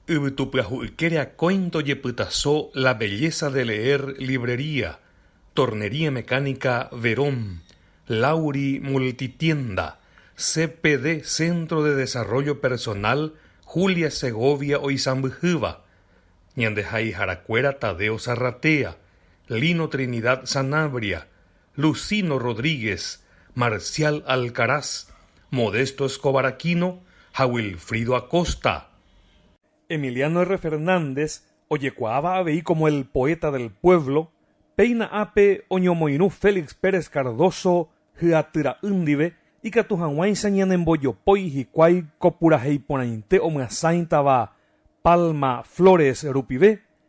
Yvytu pyahu'ykére akói ndojepytaso La belleza de leer librería, Tornería Mecánica Verón, Lauri Multitienda, CPD Centro de Desarrollo Personal Julia Segovia oisãmbyhýva, Ñandeha'iharakuéra Tadeo Zarratea, Lino Trinidad Sanabria, Lucino Rodríguez, Marcial Alcaraz, Modesto Escobar Aquino ha Wilfrido Acosta. Emiliano R. Fernández ojekuaáva avei como el poeta del pueblo, péina ápe oñomoirũ Félix Pérez Cardoso hyatyra'y ndive ikatu hag̃uáicha ñanembojopói hikuái ko purahéi porãite omyasãitava Palma Flores rupive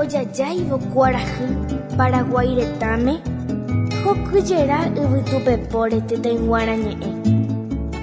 Ojajáivo kuarahy Paraguái retãme, hokyjera yvytupepóre tetãyguarã ñe'ẽ.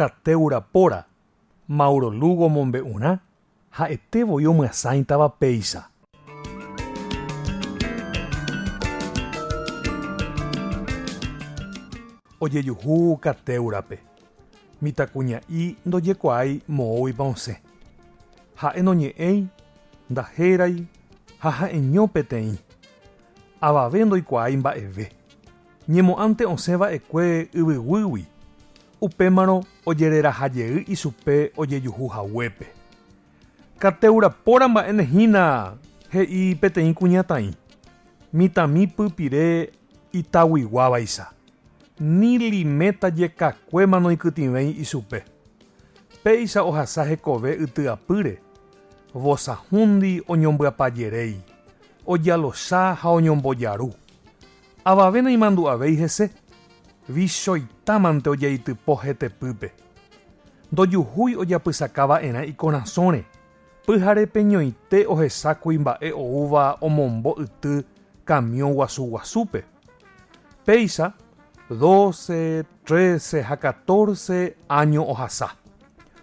Cateura Pora, Mauro Lugo omombe'urã ha'ete voi omyasãitava péicha. Ojejuhu Cateura-pe, mitãkuña'i ndojekuaái moõguipa osẽ. Ha'e noñe'ẽi Ndahérái ha ha'eño peteĩ. Avave ndoikuaái mba'eve. Ñemo'ãnte osẽ va'ekue yvyguýgui, upémarõ ojereraha jey ichupe ojejuhu haguépe. Katéura póra mba'éne hína, he'i peteĩ kuñataĩ, mitãmi pypire itaguiguávaicha, ni limeta jekakuéma noikytĩvéi ichupe. Péicha ohasa hekove yty apýre, Vosahúndi oñombyapajeréi, ojalocha ha oñombojaru. Avave naimandu'avéi hese, vichóitamante ojaitypo hetepýpe. Ndojuhúi ojapysaka va'erã ikorasõre, pyhare peñoite ohecha kuimba'e oúva omombo yty kamiõ guasu guasúpe. Péicha doce, trece ha catorce áño ohasa.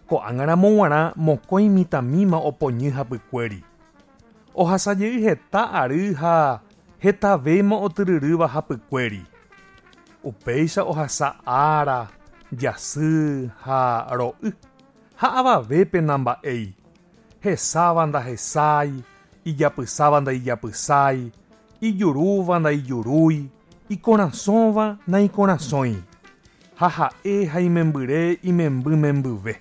Ko'ág̃aramo g̃uarã mokõi mitãmíma opoñy hapykuéri. Ohasa jey heta ary ha hetavéima otyryrýva hapykuéri. Upéicha ohasa ára, jasy ha ro'y, ha avavépe namba'éi. hesáva ndahesái, ijapysáva ndaijapysái, ijurúva ndaijurúi, ikorasõva naikorasõi, ha ha'e ha imembyre imemby membyve.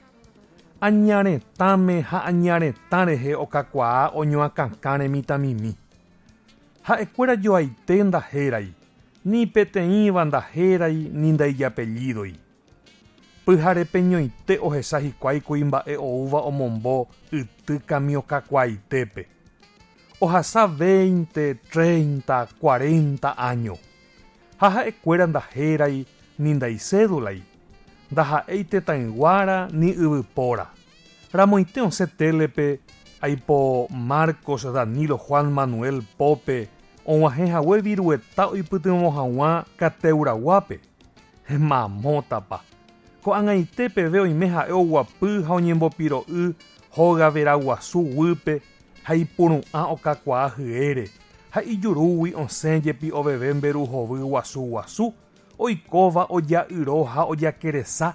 Aña retãme ha aña retã rehe okakuaa oñoakãkãre mitãmimi. Ha'ekuéra joaite ndahérái, ni peteĩva ndahérái ni ndaijapellídoi. Pyharepeñoite ohesa hikuái kuimba'e oúva omombo yty kamiõ kakuaaitépe. Ohasa veinte, treinta, cuarenta áño. Ha ha'ekuéra ndahérái ni ndaicédulai, ndaha'éi tetãyguára ni yvypóra. Ramoite osẽ télepe aipo Marcos, Danilo, Juan, Manuel pópe og̃uahẽ hague virueta oipytyvõ hag̃ua Cateura guápe. Mamótapa! Ko'ag̃aite peve oime ha'e oguapy ha oñembopiro'y hóga veraguasu guýpe ha ipuru'ã okakuaa hyére, ha ijurúgui osẽ jepi oveve mberu hovy guasu guasu oikóva oja'yro ha ojakeresa,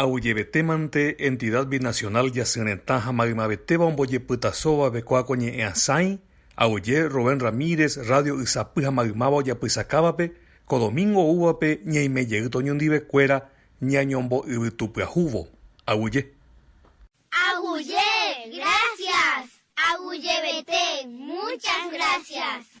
Aguyjevetémante Entidad Binacional Jasy Retã ha Maymavetéva ombojepytasovavekóa ko ñe'ẽ asãi, aguyje Rubén Ramírez radio Ysapy ha Maymáva ojapysakávape, ko domingo oúvape ñaime jey toñundivekuéra ñañombo'yvytupyahúvo. Aguyje. Aguyje, gracias. Aguyjevete, muchas gracias.